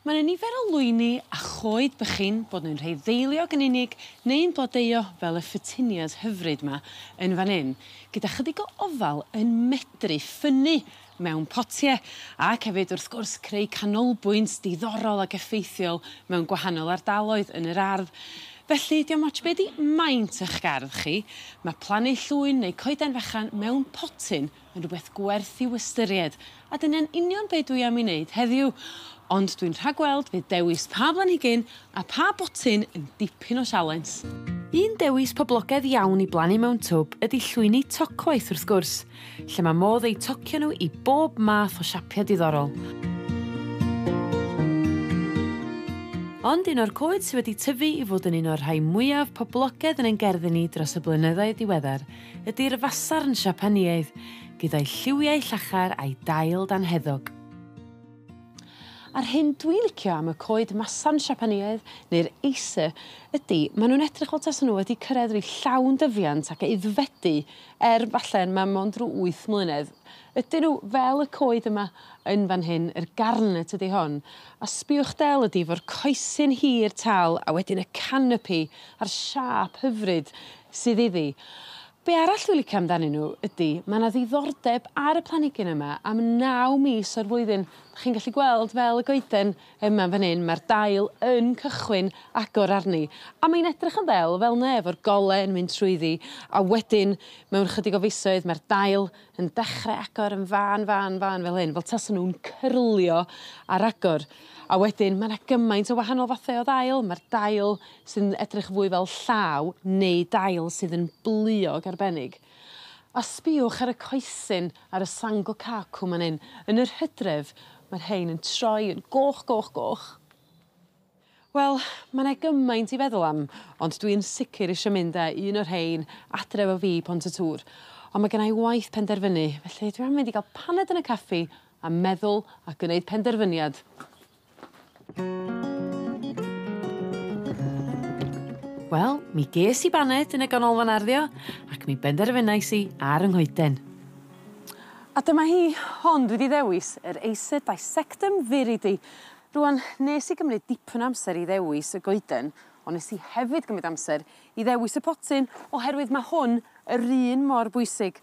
Ma' 'ne nifer o lwyni a choed bychin bod nw'n rhei ddeiliog yn unig neu'n blodeuo fel y phettunias hyfryd 'ma yn fan 'yn gyda chydig o ofal yn medru ffynnu mewn potie ac hefyd wrth gwrs creu canolbwynt diddorol ag effeithiol mewn gwahanol ardaloedd yn yr ardd felly diom ots be' 'di maint 'ych gardd chi ma' plannu llwyn neu coeden fechan mewn potyn Mae'n rhywbeth gwerth i'w ystyried, a dyna'n union be' dwi am 'i wneud heddiw. Ond dwi'n rhagweld fydd dewis pa blanhigyn a pha botyn yn dipyn o sialens. Un dewis poblogedd iawn i blannu mewn twb ydi llwyni tocwaith wrth gwrs, lle ma' modd eu tocio nhw i bob math o siapia' diddorol. Ond un o'r coed sy wedi tyfu i fod yn un o'r rhai mwyaf poblogedd yn ein gerddi ni dros y blynyddoedd diweddar ydi'r fasarn Siapaneaidd, gyda'i lliwiau llachar a'i dail dan heddwch. A'r hyn dwi licio am y coed masarn Siapaneaidd neu'r Acer ydi ma' nw'n edrych fel tasa n'w wedi cyrredd rhyw llawn dyfiant ac aeddfedu er falle ma' mond rw wyth mlynedd. Ydyn n'w fel y coed yma yn fan hyn yr garnet ydi hon a sbïwch del ydi 'fo'r coesyn hir tal a wedyn y canopi a'r siâp hyfryd sydd iddi. Be' arall dwi licio amdanyn n'w ydi ma' 'na ddiddordeb ar y planigyn yma am naw mis o'r flwyddyn 'dach chi'n gallu gweld fel y goeden yma fan 'yn ma'r dail yn cychwyn agor arni a mae'n edrych yn ddel fel 'ne efo'r gole yn mynd trwyddi a wedyn mewn chydig o fisoedd ma'r dail yn dechre agor yn fân fân fân fel hyn fel tasa nw'n cyrlio ar agor a wedyn ma' 'na gymaint o wahanol fathe o ddail ma'r dail sy'n edrych fwy fel llaw neu dail sydd yn bleuog arbennig. A sbïwch ar y coesyn ar y Sangokaku man 'yn, yn yr Hydref ma'r rhein yn troi yn goch goch goch. Wel ma' 'ne gymaint i feddwl am ond dwi yn sicir isio mynd â un o rhein adre efo fi i Pont-y-tŵr on' ma' gennai waith penderfynu felly dwi am mynd i ga'l paned yn y caffi a meddwl a gneud penderfyniad. Wel, mi ges i baned yn y ganolfan arddio ac mi benderfynais i ar 'y nghoeden. A dyma hi, hon dwi 'di ddewis yr Acer dissectum viridi. Rŵan nes i gymryd dipyn o amser i ddewis y goeden on' nes i hefyd gymryd amser i ddewis y potyn oherwydd ma' hwn yr un mor bwysig.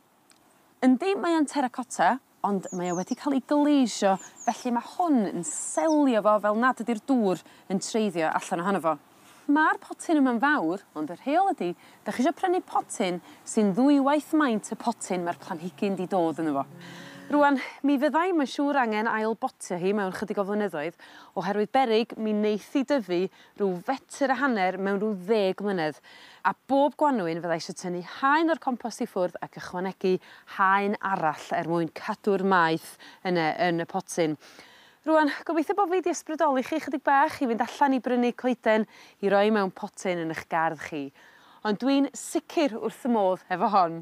Yndi mae o'n terracotta ond mae o wedi ca'l 'i gleisio felly ma' hwn yn selio fo fel nad ydi'r dŵr yn treiddio allan ohono fo. Ma'r potyn yma'n fawr ond y rheol ydi 'dach chi isio prynu potyn sy'n ddwywaith maint y potyn ma'r planhigyn 'di dod yno fo. Rŵan mi fydda i mae'n siŵr angen ail botio hi mewn chydig o flynyddoedd oherwydd beryg mi neith 'i dyfu rhyw fetr a hanner mewn rhyw ddeg mlynedd a bob gwanwyn fydda i isio tynnu haen o'r compost i ffwrdd ac ychwanegu haen arall er mwyn cadw'r maeth yne yn y potyn. Rŵan, gobeithio bo fi 'di ysbrydoli chi chydig bach i fynd allan i brynu coeden i roi mewn potyn yn 'ych gardd chi. Ond dwi'n sicir wrth fy modd hefo hon.